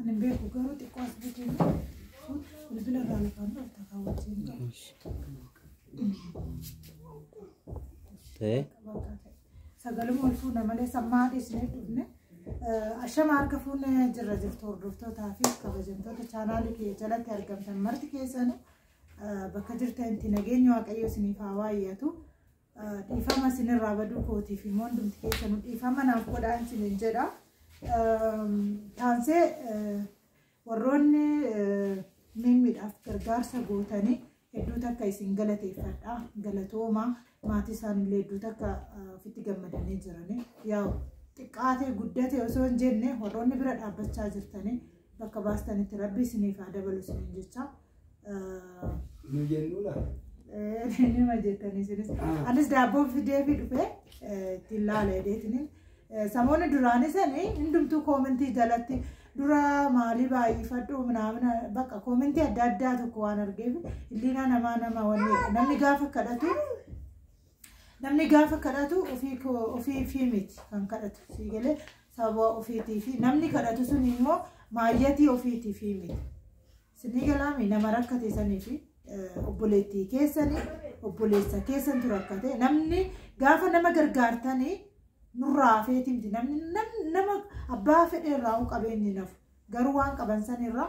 Ani beeku garuu xiqqoo as buuteen bilbila irraa lafaan dhufta kaawwachiin qaba. Ta'ee Sagaluma ol fuuna malee sammaa dhiisnee dhufne. Ashama harka fuune jirra jirtu hordoftootaa fi kabajamtoota chaanaalii kiyya jalatti argamtan marti keessanu bakka jirtanitti nageenyi waaqayyo isiniif haa waayyatu. Dhiifama isinirraa baduu kootiif immoo hundumti keessanuu dhiifama naaf godhaa isiniin jedha. Taansee warroonni miimmiidhaaf gargaarsa gootanii hedduu takka isin galateeffadha. Galatooma maatii isaanillee hedduu takka ofitti gammadanii jiranii. Yaa'u xiqqaatee guddatee osoo hin jenne warroonni bira dhaabbachaa jirtanii bakka baastanitti rabbi isiniif haa dabalu isiniin jechaa. Ah, Nu jennuu laata? eh, Nima jettanii isinis. Ah. Anis daabboo fidee fi dhufee eh, ittiin laala jedheetini. Eh, Samoonni duraanii sani hundumtuu koomentii jalatti dura maalii baay'ifadhu minaamina bakka koomentii adda addaa tokko waan argeef illiinaa namaa nama wanni namni gaafa kadhatu namni gaafa kadhatu ofii koo ofii fi miti kan kadhatu sii galee sababa ofiitii fi namni kadhatu sun immoo maayyatii ofiitii fi miti. Sinii galaami nama rakkate sanii fi obboleettii keessanii obboleessa keessantu rakkate namni gaafa nama gargaartanii nurraa hafeeti miti namni nama abbaa fedhe irraa qabeenyi nafu garuu waan qaban sanirraa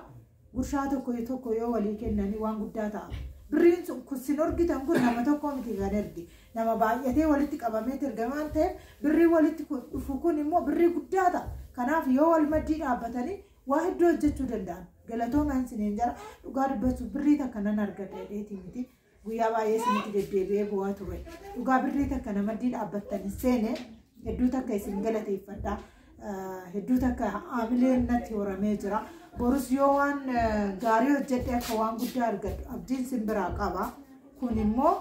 gurshaa tokko tokko yoo walii kennanii waan guddaa ta'a. Birriin sun kun sin argitan kun nama tokko miti kan erge nama baay'atee walitti qabamee erge waan ta'eef birrii walitti dhufu kun immoo birrii guddaa ta'a. Kanaaf yoo wal maddii dhaabbatanii Waa hedduu hojjechuu danda'an. Galatoomaan isiniin jara dhugaa dubbachuuf birrii takka nan argadha jedheetii miti. Guyyaa baay'ee isinitti deddeebi'ee bu'aa ture. Dhugaa birrii takka namaddii dhaabbattanii seene hedduu takka isin galateeffadha. Eh, Hedduu takka haamileen natti horamee jira. Borus yoo waan eh, gaarii hojjedhe akka waan guddaa argadhu abdiin sin biraa qaba. Kun immoo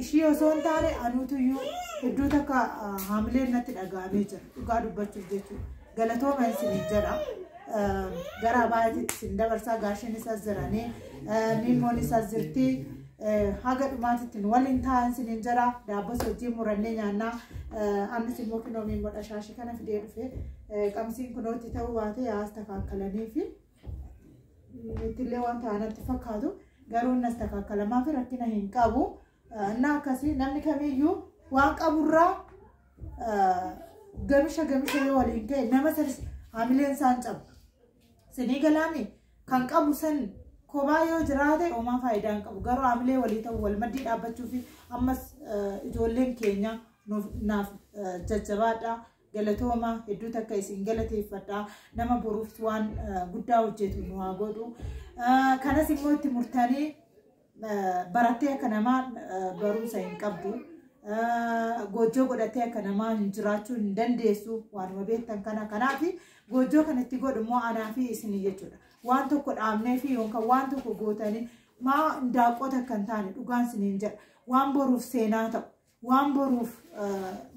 ishii osoo hin taane anuutuyyuu iddoo takka haamileen natti dhaga'amee jira dhugaa dubbachuuf jechuudha galatooma isin jedha gara abaayatti isin dabarsaa gaasheen isaas jiranii miimmoon isaas jirti haga dhumaatitti nu waliin taa'an isin jedha daabbas hojii murannee nyaannaa ammas immoo kunoo miimmoodha shaashii kana fidee dhufe qamsiin kunooti ta'uu baatee haas takaakalanii fi ittillee waan ta'anatti fakkaatu garuu innas takaakkalamaa fi rakkina hin qabu. Innaa akkasii namni kamiyyuu waan qaburraa gamisha gamisha yoo waliin ta'e nama sanis hamileen isaan cabu. Sinii galaami kan qabu san kophaa yoo jiraate homaa faayidaa hin qabu. Garuu hamilee walii ta'u wal maddii dhaabbachuu fi ammas ijoolleen keenya naaf jajjabaadhaa. Galatooma hedduu takka isin galateeffadha. Nama boruuf waan eh, guddaa hojjetu nu haa godhu. Eh, Kanas immoo itti murtanii eh, barattee akka namaa eh, barumsa hin qabdu. Eh, Goojjoo godhattee akka namaa hin jiraachuu hin dandeessu waanuma beektan kana. Kanaaf goojjoo kan itti godhu immoo anaa fi isin jechuudha. Waan tokko dhaabnee fi yookaan waan tokko gootanii maa daaqota kan taane dhugaan isiniin jedha. Waan boruuf seenaa ta'u. Waan boruuf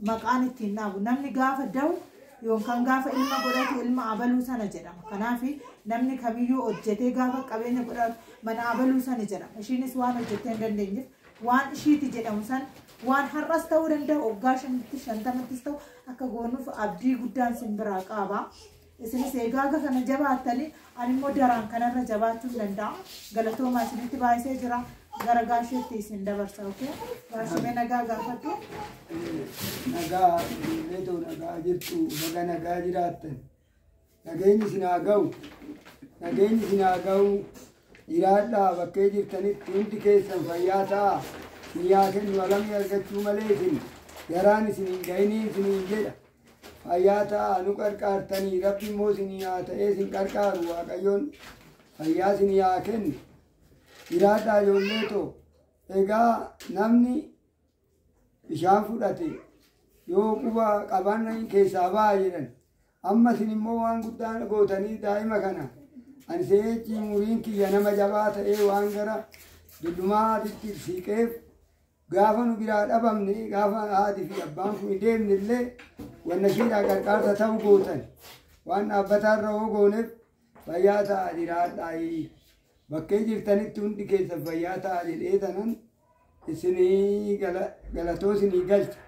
maqaan ittiin dhaabu namni gaafa da'u yookaan gaafa ilma godhatu ilma abaluu sana jedhama. Kanaaf namni kamiyyuu hojjetee gaafa qabeenya godhatu mana abaluu sana jedhama. Ishiinis waan hojjettee hin dandeenyeef waan ishiiti jedhamu san waan har'as ta'uu danda'a waggaa shantamatti shantamattis ta'u akka goonuuf abdii guddaan sin biraa qaaba. Isinis egaa haga kana jabaattanii ani immoo daraan kanarra jabaachuun danda'a. Galatoomaa isinitti baay'isee jira. Gara gaasheetti isin dabarsa. Okay? Gaashee mee nagaa gaafadhu. nagaa beetoo nagaa jirtu baga nagaa jiraattan nageenyi isin haa ga'u nageenyi isin haa ga'u jiraadhaa bakkee jirtanitti hundi keessan fayyaa ta'a isin yaa kennu alamii argachuu malee isin garaan isin hin ga'iniin isin hin jedha Fayyaa ta'aa nu qarqaartanii rabbi immoo isinii haa ta'ee isin qarqaaru waaqayyoon fayyaa isinii haa kennu jiraadhaa ijoollee too egaa namni bishaan fudhate yoo quba qaban keessaa ba'a jedhan amma isin immoo waan guddaa gootanii daa'ima kana ani seechi muriin kiyya nama jabaa ta'ee waan gara dullumaatitti siiqeef Gaafa nu biraa dhabamne, gaafa haati fi abbaan kun deemne illee wanna shiidhaa qarqaarsa ta'u gootan. Waan dhaabbataa irra hoo gooneef fayyaa ta'a jiraadhaayii. Bakkee jirtanitti hundi keessan fayyaa ta'a jedhee tanan isinii gala- galatoo isinii galcha.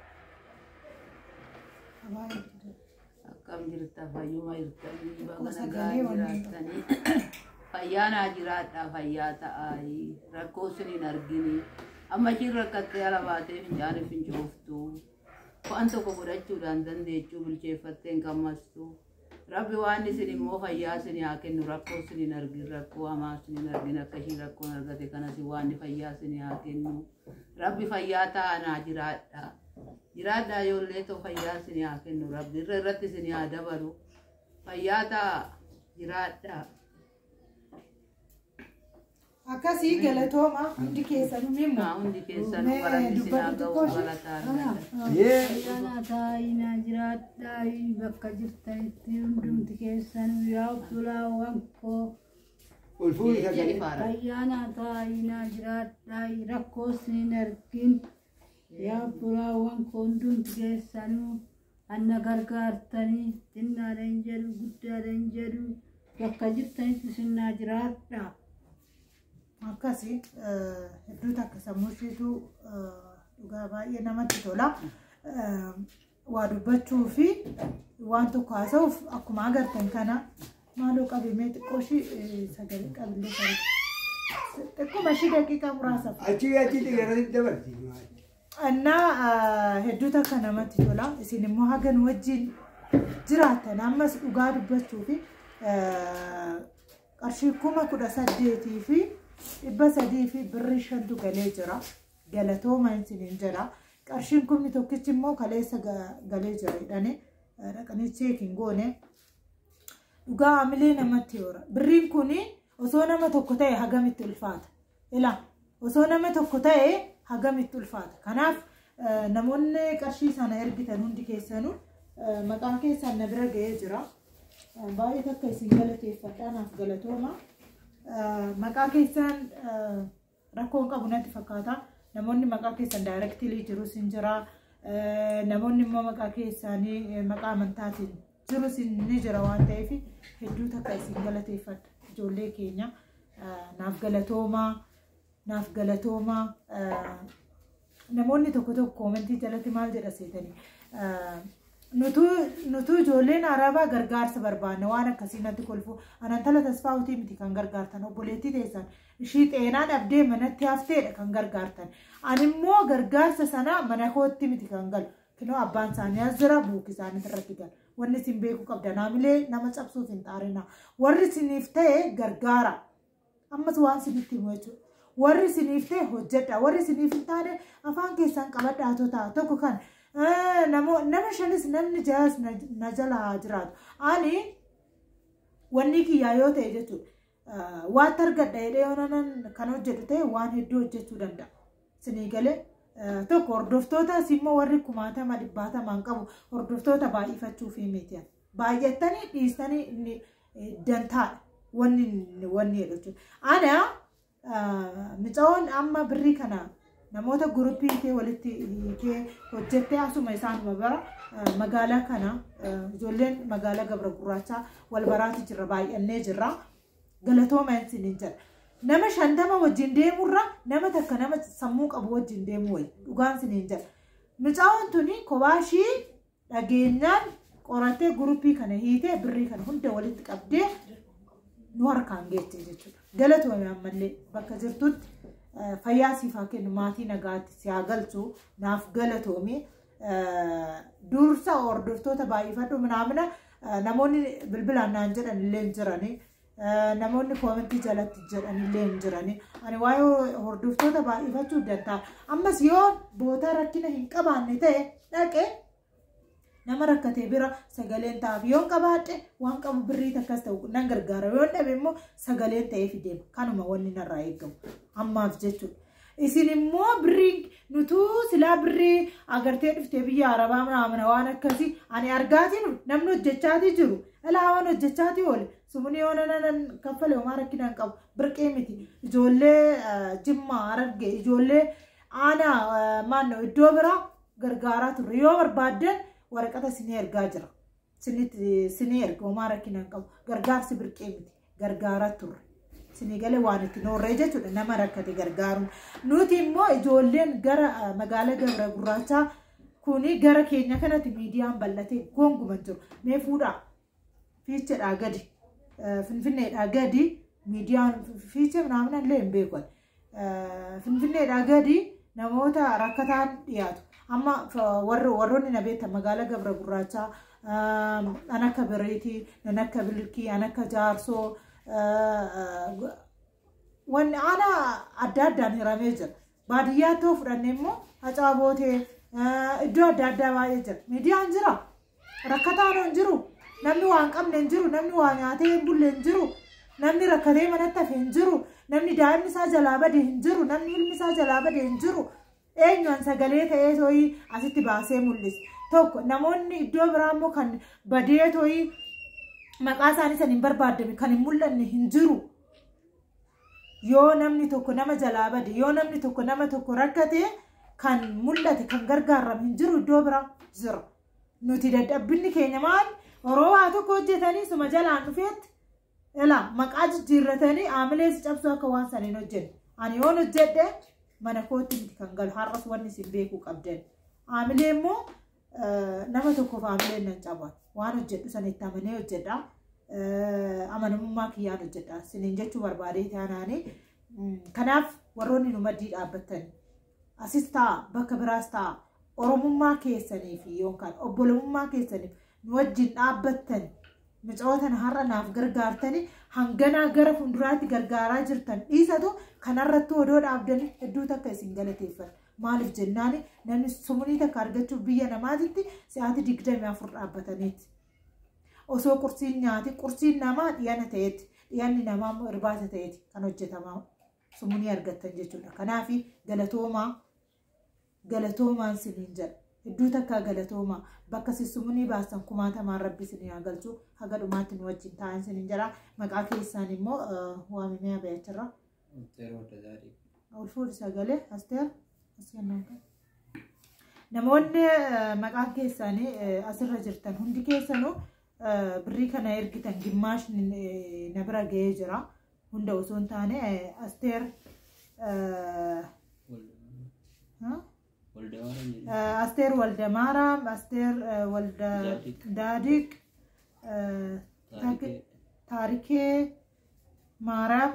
Akkam jirta fayyuma jirtanii baga Akkuma nagaa sagalee wanni. jiraattanii fayyaa naa jiraadhaa fayyaa ta'aayi rakkoo sin hin argini amma ishiin rakkattee ala baatee fincaan hin fincooftu waan tokko godhachuudhaan dandeechuu bilcheeffattee hin gammastu rabbi waan isin immoo fayyaa sin haa kennu rakkoo sin hin argin rakkoo hamaa sin hin argin akka ishiin rakkoon argate kanas waan fayyaa sin haa kennu Rabbi fayyaa ta'aa naa jiraadha. Jiraadha ijoollee too fayyaa isin haa kennu rabbi irra irratti isin haa dabalu. Fayyaa ta'aa jiraadha. Akkasii galatooma hundi keessanuu mee Naa hundi keessanuu Mee galanni isin haa dubbatu ga'u xiqqoo galataan ishee. galataan. Yee. Ayyaanaa taa'inaa jiraadhaa bakka jirtanitti hundumti keessanuu yaa obbolaa wankoo Ol fuudhi Eeyyee sagalee. dhifaara. Ayyaana taayinaa jiraadhaa rakkoo siin argin yaa furaawwan koondumti keessanuu anna gargaartanii xinnaadhan jedhu guddaadhan jedhu bakka jirtanitti sinnaa jiraadha. Akkasii eh, hedduu takka sammuu isheetu eh, dhugaa baay'ee namatti tola. Eh, waa dubbachuu fi waan tokko haasa'uuf akkuma agartan kana maaloo qabimee xiqqoo ishii sagalee qabillee qabate. Xiqquma ishii daqiiqaa muraasa. Achi achi xiyyaarratti dabarti. Annaa hedduu takka namatti tola. Isin immoo haga nu wajjin jiraatan ammas dhugaa dubbachuu fi qarshii kuma kudha saddeetii fi dhibba sadii fi birrii shantu galee jira. Galatooma isiniin jedha. Qarshiin kumni tokkichi immoo kaleessa galee jira jedhanii dhaqanii cheekiin goone. Dhugaa hamilee namatti hoora. Birriin kun osoo nama tokko ta'e hagamitti ulfaata. Ila osoo nama tokko ta'e hagamitti ulfaata. Kanaaf namoonni qarshii sana ergitan hundi keessanuu maqaan keessan na bira ga'ee jira. Baay'ee takka isin galateeffadhaa naaf galatooma. Maqaa keessan Rakkoon qabu natti fakkaata. Namoonni maqaa keessan daayirektilii jirus hin jira. Namoonni immoo maqaa keessaanii maqaa amantaatiin jirus ni jira waan ta'eef hedduu takka isin galateeffadha. Ijoollee keenya naaf galatoomaa naaf galatoomaa. Namoonni tokko tokko koomentii jalatti maal jedha seetanii? Nutuu ijoolleen arabaa gargaarsa barbaanna waan akkasii natti kolfu anantala tasfaawutii miti kan gargaartan obboleettii teessan ishii xeenaa dhabdee manatti hafteedha kan gargaartan animmoo gargaarsa sanaa mana kootti miti kan galu kinoo abbaan isaanii as jira buuki isaanii irratti galu wanni isin beekuu qabda naamilee nama cabsuuf hin xaarina warri isiniif ta'e gargaara Ammas waan sinitti himu jechuudha. Warri siniif ta'e hojjedha. Warri siniif hin taane afaan keessaan qabadhaa otoo ta'a. Tokko kan eh, namo- nama shanis namni jaas na na jala haa jiraatu. Ani wanni kiyyaa yoo ta'e jechuudha. eh, Waatti argadha jedhee yoo nanan kan hojjetu ta'e waan hedduu hojjechuu danda'a. Sinii galee eh, tokko hordoftootas immoo warri kumaatama dhibbaatamaan qabu hordoftoota baay'ifachuuf miti. Baay'attanii dhiistanii inni dantaadha. Wanni wanni jedhu jechuudha. Ana micaa'oon amma birrii kana namoota guruppii kee walitti kee hojjettee asuma isaanuma bara magaalaa kana ijoolleen magaalaa gabra gurraachaa wal baraati jirra baay'annee jirra galatooma isin hin jedha. Nama shantama wajjin deemurra nama takka nama sammuu qabu wajjin deemu wayi dhugaan isin hin jedha. Micaa'oon tuni kophaa ishii dhageenyaan qoratee gurupii kana hiitee birrii kana hunda walitti qabdee nu harkaan geettee jechuudha. Galatoomii ammallee bakka jirtutti fayyaa siif haa kennu maatii nagaatti si haa galchu naaf galatoomii dursa hordoftoota baay'ifadhu minaamina namoonni bilbilaan naan jedhan illee jiranii. namoonni koomentii jalatti jedhanillee hin jirani. Ani waa'ee hordoftoota baay'ifachuu danda'a. Ammas yoo bootaa rakkina hin qabaanne ta'e dhaqe nama rakkate bira sagaleen ta'aaf yoo qabaadhe waan qabu birrii takkas ta'u nan gargaara yoo dhabe immoo sagaleen ta'ee fideema kanuma wanni narraa eegamu ammaaf jechuudha. Isin immoo birrii nutuu silaa birrii agartee dhuftee biyya arabaa manaamana waan akkasii ani argaatiin namni hojjechaatii jiru ilaa waan hojjechaatii oole sumuni yoo nanan kaffale homaa rakkinaan qabu birqee miti ijoollee eh, jimmaa ararge ijoollee aanaa eh, maannoo iddoo biraa gargaaraa turre yoo barbaaddan waraqata isinii ergaa jira. Sinii erga homaa rakkina hin qabu. Gargaarsi birqee miti. Gargaaraa turre. Sinii galee waan itti noorree jechuudha nama rakkate gargaaruun. Nuti immoo ijoolleen gara magaalaa Gabra Gurraachaa kuni gara keenya kanatti miidiyaan bal'atee gonguman jiru. Mee fuudhaa fiichedhaa gadi finfinneedhaa gadi miidiyaan fiichee naamna illee hin beekan. Finfinneedhaa gadi namoota rakkataan dhiyaatu. Amma warroonni na beektan magaalaa Gabra Gurraachaa an akka Bereetii, nan akka Bilkii, an akka Jaarsoo wanni aanaa adda addaan hiramee jira. Baadiyyaa ta'uu fudhannee immoo hacaa bootee iddoo adda addaa baay'ee jira. Miidiyaan jira. Rakkataan hin jiru. Namni waa hin qabne hin jiru. Namni waa nyaatee hin bulle hin jiru. Namni rakkatee manatti hafe hin jiru. Namni daa'imni isaa jalaa bade hin jiru. Namni ilmi isaa jalaa bade hin jiru. Eenyuun sagalee ta'ee tooyi asitti baasee mul'ise. Tokko namoonni iddoo biraa immoo kan badee tooyi maqaa isaanii san hin barbaadame kan hin mul'anne hin jiru. yoo namni tokko nama jalaa bade yoo namni tokko nama tokko rakkate kan mul'ate kan gargaaramu hin jiru iddoo biraa jira nuti dadhabbinni keenya maal oroo waa tokko hojjetanii suma jalaan dhufeetti ilaa maqaa jijjiirratanii aamilees cabsuu akka waan saniin hojjenne ani yoon hojjedhe mana kootti miti kan galu har'as wanni isin beekuu qabdan aamilee immoo Nama tokkoof hamileen nan caba. Waan hojjedhu sana itti amanee hojjedha. Amanamummaa kiyyaan hojjedha. Sinin jechuu barbaadee taanaani. Kanaaf warroonni nu maddii dhaabbattan asis ta'a bakka biraas ta'a oromummaa keessanii fi yookaan obbolummaa keessaniif nu wajjin dhaabbattan micootana har'a naaf gargaartanii hanganaa gara fuulduraatti gargaaraa jirtan dhiisatu kanarratti odoo dhaabdan hedduu takka isin galateeffadha. Maaliif jennaan namni sumunii takka argachuuf biyya namaatitti sa'aatii digdamii afur dhaabbataniiti. Osoo qursiin nyaati qursiin namaa dhiyana ta'eeti dhiyanni namaa immoo irbaata ta'eeti kan hojjetamaa sumunii argattan jechuudha. Kanaaf galatoomaa galatoomaan siniin jedha. Hedduu takkaa galatoomaa bakka si sumunii baasan kumaatamaan rabbi sinii haa galchu haga dhumaatti nu wajjin taa'an siniin jedha. Maqaa keessaan immoo waamimee abayacharraa. Asteer Wadda Zaariif. Ulfuun sagalee asteer asteer naanka. Namoonni eh, maqaan keessaanii eh, asirra jirtan hundi keessanuu eh, birrii kana ergitan gimmaashni eh, na bira ga'ee jira. Hunda osoo hin taane eh, asteer eh, ha? Walda Waaraa jedhu. Eh, asteer walda maaraam asteer eh, walda Daadiq. daadiq eh, Taarikee. taarikee Maaraaf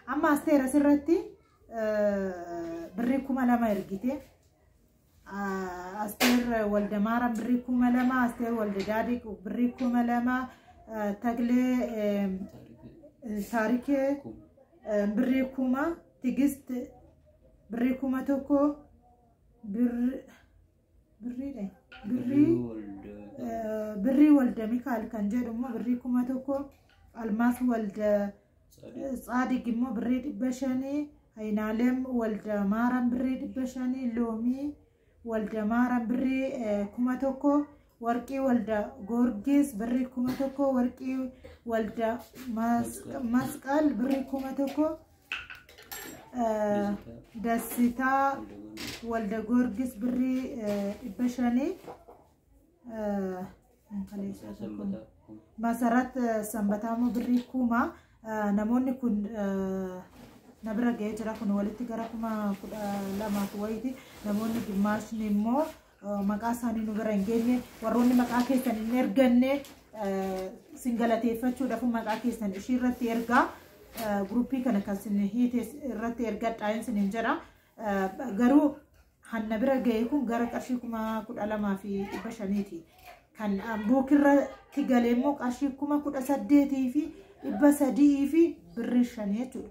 amma asteer asirratti birrii kuma lama ergite. Asteer walda maaraaf birrii kuma lama, asteer walda daadhiq birrii kuma lama, taglee taarikee birrii kuma, tigist birrii kuma tokko, birrii. birriidha birrii eh, birrii walda mikaal kan jedhu immoo birrii kuma tokko almaas walda eh, tsaadig immoo birrii dhibba shanii ayinaalem walda maaram birrii dhibba shanii loomii walda maaram birrii eh, kuma tokko warqii walda goorgis birrii kuma tokko warqii walda mas- masqal birrii kuma tokko Dassitaa Walda Goorgis birrii dhibba shanii Masarat Sanbataa immoo birrii kuma namoonni kun na bira ga'ee jira kun walitti gara kuma kudha lamaaf wayiiti namoonni gimmaashni immoo maqaa isaanii nu bira hin geenye warroonni maqaa keessan hin erganne sin galateeffachuudhaaf maqaa keessan ishii irratti ergaa guruppii kana kan sin hiite irratti ergadhaa hin sin hin jedha garuu hanna bira ga'e kun gara qarshii kuma kudha lamaa fi dhibba shaniiti kan buukirratti galee immoo qarshii kuma kudha saddeetii fi dhibba sadii fi birrii shanii jechuudha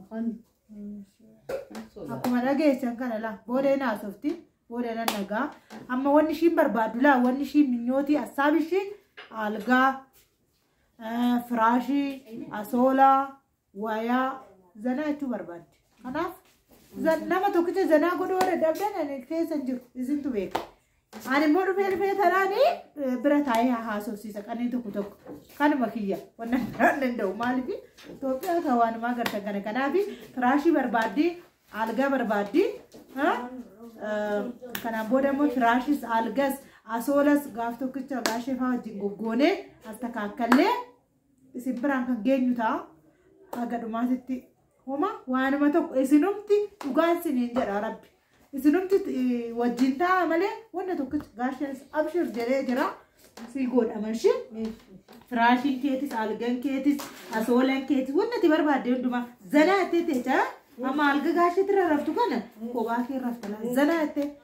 Afaan akkuma dhageessan kana laa booda hin haasofti booda nan dhagaa amma wanni ishiin barbaaddu laa wanni ishiin minyootii assaabi ishii algaa eh, firaashii asoolaa wayaa zanaa jechuu barbaaddi kanaaf zan- nama tokkicha zanaa godhuu warra dhabdan ani keessa hin jiru isintu beeka Ani immoo dhufee dhufee tanaanii eh, bira taa'ee haa haasofsiisa qanii tokko tokko kanuma kiyya wanna biraan danda'u maaliif Itoophiyaa kan waanumaa gartan kana kanaaf firaashii barbaaddii algaa barbaaddii ha? Eh, kanaan booda immoo firaashis algas asoolas gaaf tokkicha gaashee fa'aa wajjin goggoonee as takkaakkallee isin biraan kan geenyu ta'a haga dhumaatitti homa waanuma tokko isinumti dhugaan siniin jedha rabbi isinumti eh, wajjin ta'a malee wanna tokkitti gaasheen abshir jedhee jira sii godhama ishee firaashiin keetis algan keetis asoolan keetis wanna itti barbaadde hundumaa zanaa itti ta'e amma alga gaasheetti irra raftu kana kophaa kee irra rafta laa zanaa itti